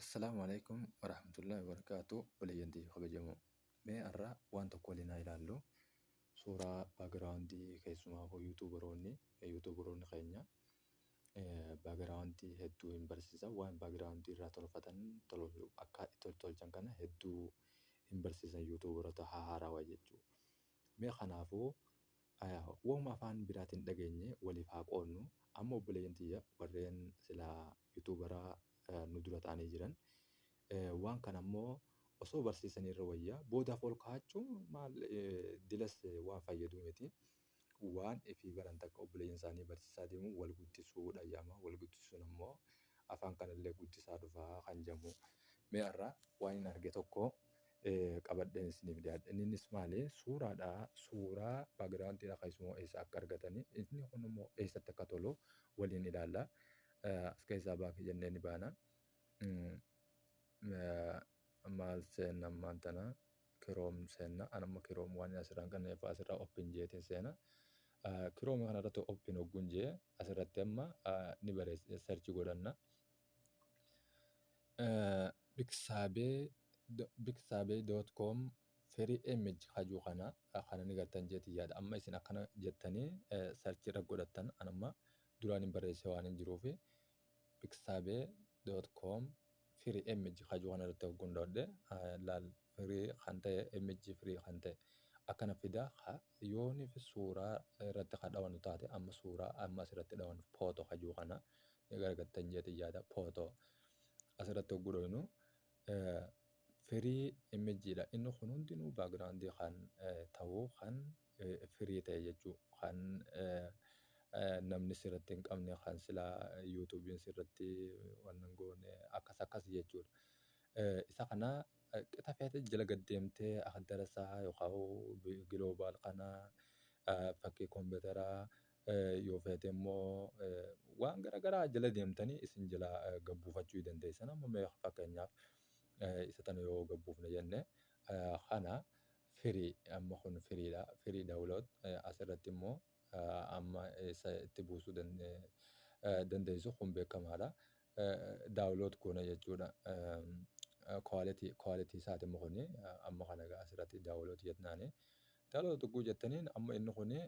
Assalaamu alaikum warahmatullahi wabarakatuh obboleeyyantii kabajamoo mee har'a waan tokko waliin haa ilaallu suuraa baagiraawundii keessumaa hoo yuutuubaroonni yuutuubaroonni keenya baagiraawundii hedduu hin barsiisa waan baagiraawundii irraa tolfatan tolfatu akka itti tolchan kana hedduu hin barsiisan yuutuubarota haarawaa jechuudha. Mee kanaafuu wahuma afaan biraatiin dhageenye waliif haa qoodnu. Amma obboleeyyan tiyya warreen silaa yutuubara nu dura ta'anii jiran waan kana immoo osoo barsiisanii irra wayya boodaaf ol kaa'achuun maal dilas waan fayyaduu miti. Waan ifii baran takka obboleeyyan isaanii barsiisaa deemuun wal guddisuu dhayyaama. Wal guddisuun ammoo afaan kanallee guddisaa dhufaa kan jedhamu. Mee har'a waan hin arge tokko qabadheen isiniif dhiyaadhe. Inninis maali? Suuraadha. Suuraa backgroundidha keessumoo eessa akka argatani. Inni kun immoo eessatti akka tolu waliin ilaalla. As keessaa baaki jennee ni baana. Maal seenna ammaan tana? Kiroom seenna. An amma kiroom waan asirraa hin qabneef asirraa open jeetiin seena. Kiroom kanarratti open hogguun jee asirratti amma ni bareessa search godhanna. Biksaabee biksaabee dot com free image hajuu kana kana ni gartan jeeti yaada amma isin akkana jettanii sarchii irra godhattan an amma duraan hin barreessee waan hin jiruufi biksaabee dot com free image hajuu kana irratti hogguun dhoodhe laal free kan ta'e img free kan ta'e akkana fida ka yoonif suuraa irratti ka dhawanu taate amma suuraa amma asirratti dhawanu photo ka jiru kana ni gargattan jeetin yaada photo asirratti hogguu dhawinu free img dha inni kun hundinuu background kan ta'u kan free ta'e jechuu kan namni sirratti hin qabne kan silaa yuutuubiin sirratti wannan goone akkas akkas jechuudha. Isa kana qixa feete jala gad deemtee akka darasaa yookaan giloobaal kana fakkii kompiitaraa yoo feete immoo waan garaagaraa jala deemtanii isin jala gad buufachuu dandeessan. Amma mee fakkeenyaaf isa tana yoo gad buufne jenne kana firii amma kun firiidha. Firii daawulood asirratti immoo amma isa itti buusuu dandeessu kun beekamaadha. daawlood goona jechuudha. Quality quality isaati immoo kuni amma kana egaa asirratti daawlood jetnaani. Daawlood tuquu jettaniin amma inni kuni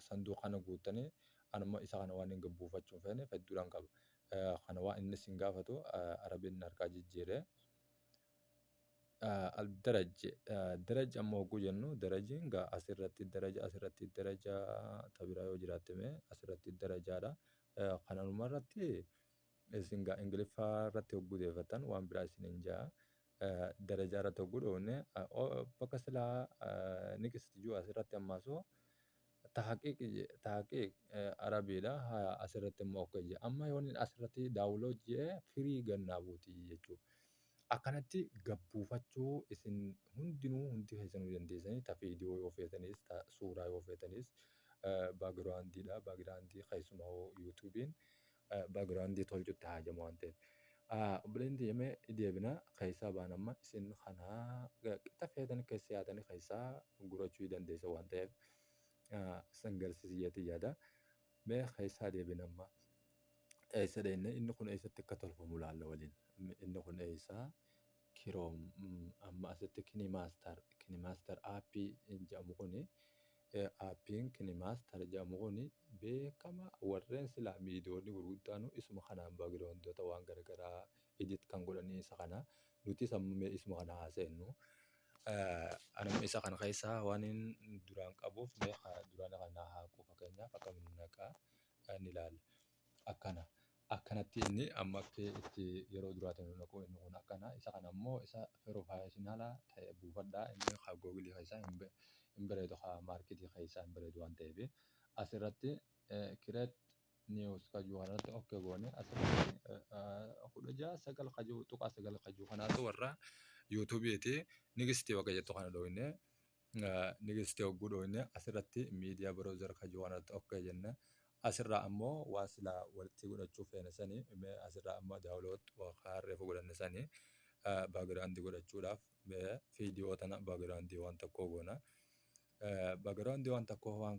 sanduuqa kana guuttanii anuma isa kana waan hin buufachuu hin feene hedduudhaan qaba. Kana waan inni isin gaafatu arabiin harkaa jijjiiree. الدرج درج amma hogguu jennu darajiin gaa asirratti daraja asirratti daraja tabiraa yoo jiraatte mee asirratti darajaadha Kanuma irratti isin gaa ingiliffaa irratti hogguu deefattan waan biraa isin hin jaa darajaa irratti hogguu dhoofne bakka silaa niqist juu as irratti ammaasoo tahqiiq tahqiiq arabiidha haa as irratti immoo ok jee amma yoon as irratti daawulood jee firii gannaa buuti jechuu Akkanatti gabbuufachuu isin hundinuu hundi keessanuu dandeessanii ta viidiyoo yoo feetanis ta suuraa yoo feetanis baagiraandiidha. Baagiraandii keessumaa hoo yuutuubiin baagiraandii tolchutti haajama waan ta'eef. Obboleen deemee deebina keessaa baan amma isin kanaa qixa feetan keessa yaatanii keessaa gurachuu dandeessa waan ta'eef isin garsiisii jeetii yaada. Mee keessaa deebin amma eessa dheenna inni kun eessatti akka tolfamu laalla waliin inni kun eessaa kiroom amma asitti kinimaastar kinimaastar aappii jedhamu kun aappiin kinimaastar jedhamu kun beekama warreen silaa miidiyoonni gurguddaanu isuma kanaan baagiraawundoota waan garagaraa edit kan godhanii isa kana nutis amma mee isuma kana haaseennu Ani immoo isa kana keessaa waanin duraan qabuuf mee haa duraan kana naa haqu fakkeenyaaf akkamiin naqa ni ilaalla. Akkana akkanatti inni amma akka itti yeroo duraatiin nu naqu inni kun akkana isa kana immoo isa pirofeshinala ta'e buufadhaa inni haa googilii keessaa hin be- hin bareedu haa maarketii keessaa hin bareedu waan ta'eef asirratti kireet news kajuu kanarratti okke goone asirratti kudha ja'a sagal kajuu tuqaa sagal kajuu kanaatu warra yuutuubiiti nigistii waqa jettu kana dhooyne nigistii hogguu dhooyne asirratti miidiyaa browser kajuu kanarratti okke jenne asirraa ammoo waan silaa walitti godhachuu feene sanii mee asirraa amma daawlood waqa reefu godhanne sanii baagiraandii godhachuudhaaf mee fiidiyoo tana baagiraandii waan tokkoo goona. Background waan tokkoo waan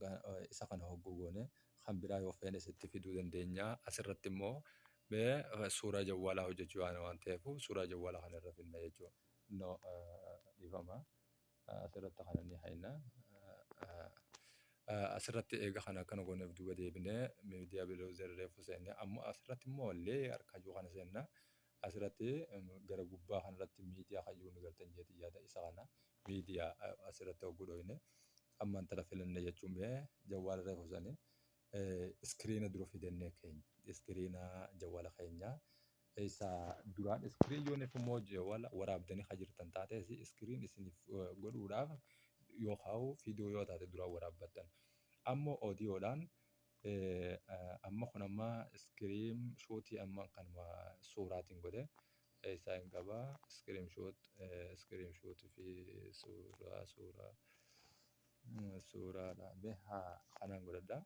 isa kana hogguu goone kan biraa yoo feene sitti fiduu dandeenya. Asirratti immoo mee suuraa jawwaalaa hojjechuu yaana waan ta'eef suuraa jawwaalaa kana irra finna jechuudha. No dhifama asirratti kana ni hayna. Asirratti eega kana akkana gooneef duuba deebinee miidiyaa biloozar reefu seenne amma asirratti immoo leeyar kayyuu kana seenna. Asirratti gara gubbaa kanarratti miidiyaa kayyuu ni galtan jeetii yaada isa kana Media asirratti hogguu dhoyne amma intala filanne jechuun bee jawwaala reefu sani iskiriina dura fidannee keenya iskiriina jawwaala keenya isa duraan iskiriin yooniif immoo jawwaala waraabdanii kan jirtan taatees iskiriin isiniif eh, godhuudhaaf yoo kaa'u fiidiyoo yoo taate duraan waraabbattan ammoo oodiyoodhaan Amma kun amma scream shoot amma kanuma suuraatiin godhe isaa hin qaba scream shoot scream shoot fi suuraa suuraa suuraadha be haa kanaan godhadha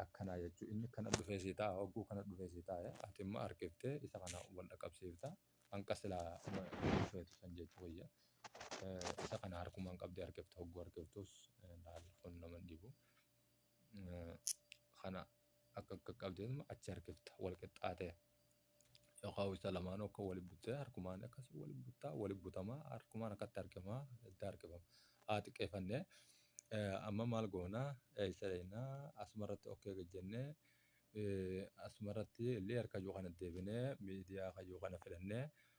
akkanaa jechuu inni kana dhufee sii ta'a hogguu kana dhufee sii ta'a ati immoo harkiftee isa kana wal dhaqqabsiifta hanqa silaa dhufeetu san jechuu wayya isa kana harkumaan qabdee harkifta hogguu harkiftus laal kun nama hin dhibu. kana akka akka qabdeen achi harkifta wal qixxaatee yookaan isa lamaan akka wal buttee harkumaan akkas wal buttaa wal butamaa harkumaan akkatti harkifamaa itti harkifama haa xiqqeeffannee amma maal goonaa isa leenaa asumarratti okkee gajjennee asumarratti illee harka yoo kana deebinee miidiyaa kan yoo kana filannee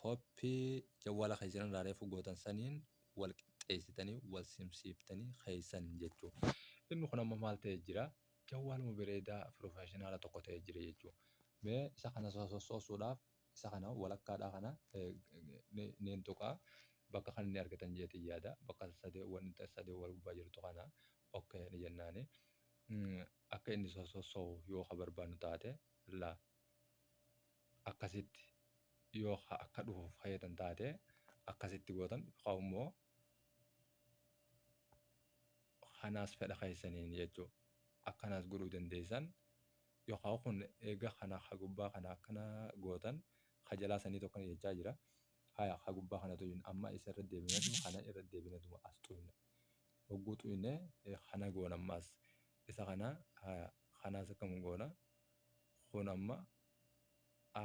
Copy jawwaala keessan irraa reefu gootan saniin wal qixxeessitanii wal simsiiftanii keessan jechuu. Inni kun amma maal ta'ee jira? Jawwaaluma bireedaa professionala tokko ta'ee jira jechuu. Mee isa kana sossosuudhaaf isa kana walakkaadhaa kana niin tuqaa bakka kan inni argitan jeetiin yaada bakka sadee wanta sadee wal gubbaa jirtu kana okay ni jennaani akka inni sossosu yoo ka barbaannu taate la akkasitti yoo ka akka dhufuuf kayyatan taate akkasitti gootan yookaan immoo kanaas fedha keessaniin jechuu akkanaas godhuu dandeessan yookaan kun eega kana ka gubbaa kana akkana gootan ka jalaa sanii tokko ni jechaa jira haya ka gubbaa kana tuyun amma isa irra deebinatuma kana irra deebinatuma as tuyna hogguu tuyne eh, kana goona ammaas isa kana haya kanaas akkam goona kun amma a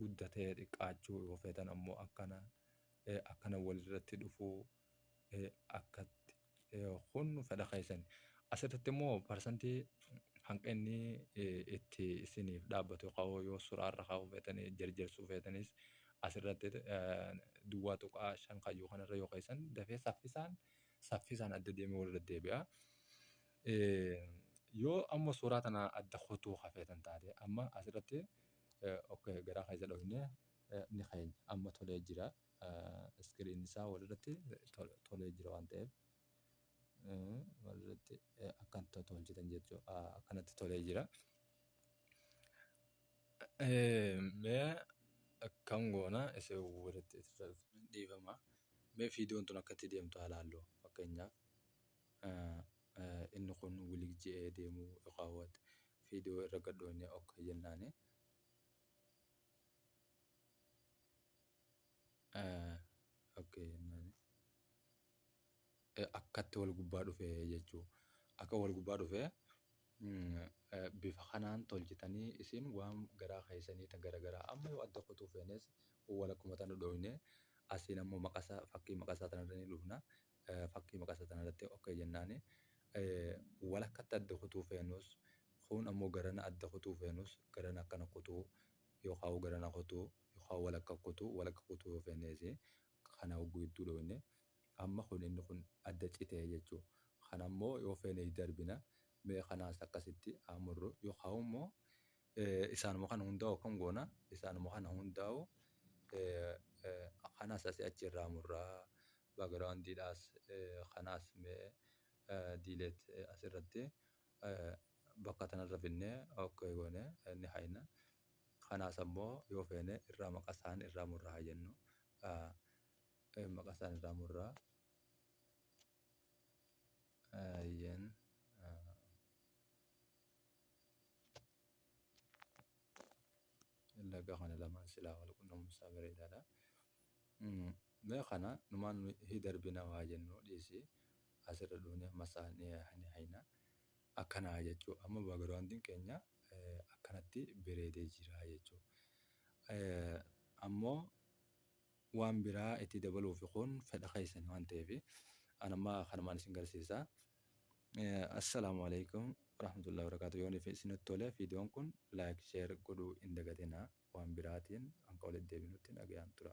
guddatee xiqqaachuu yoo feetan ammoo akkana eh, akkana walirratti dhufuu eh, akkatti eh, kun fedha keessan asirratti immoo parsantii hanqinni eh, itti isiniif dhaabbatu ka'oo yoo suraarra ka'uu feetanii jarjarsuu feetanis asirratti eh, duwwaa tuqaa shan kayyuu kanarra yoo keessan dafee saffisaan saffisaan adda deemee walirra deebi'a. Yoo amma suuraa tana adda kutuu ka feetan taate amma asirratti ok garaa keessa dhoofne ni keenya amma tolee jira iskiriin isaa walirratti tolee jira waan ta'eef walirratti akkan tolchitan jechuu akkanatti tolee jira. Mee akkam goona isa walitti dhiifama mee fiidiyoon tun akkatti deemtu haa laallu fakkeenyaaf. Inni kun wlig je'ee deemu iqaawat fiidoo irra gad dhooynee ok jennaani. ok jennaani. Akkatti wal gubbaa dhufe jechuu akka wal gubbaa dhufe bifa kanaan tolchitanii isin waan garaa keessanii ta gara garaa amma yoo adda kutuu feenes wal akkuma tana dhooynee asiin ammoo maqasa fakkii maqasaa tanarra ni dhufna. fakkii maqasa tanarratti ok jennaani walakkatti adda kutuu feenus kuun ammoo garana adda kutuu feenus garana akkana kutuu yookaa garana kutuu yookaa walakka kutuu walakka kutuu yoo feenneesi kana hogguu gidduu dhooyne amma kun inni kun adda cite jechuu kanammoo yoo feene itti darbina mee kanaas akkasitti haa murru yookaa immoo Isaanuma kana hundaa'u akkam goona? Isaanuma kana hundaa'u kanas asii achi irraa murra. Background dhaas kanaas mee delete asirratti bakka tanarra finnee ok goone ni hayna. Kanaas ammoo yoo feene irraa maqa isaan irraa murra haa jennu. Maqa isaan irraa murra. Ayyeen. Laga kana lamaan silaa wal qunnamumsaa bareedaadha. Mee kana numaan hi darbina waa jennu dhiisi asirra dhuunee amma isaa ni hayna akkanaa jechuu amma baagiraawundiin keenya akkanatti bareedee jira jechuu ammoo waan biraa itti dabaluufi kun fedha keessani waan ta'eefi an amma kanumaan isin garsiisa assalaamu alaikum warahmatullahi wabarakatuh yoon isinitti tole viidiyoon kun like share godhuu hin dagatina waan biraatiin hanqa walitti deebinutti nagayaan tura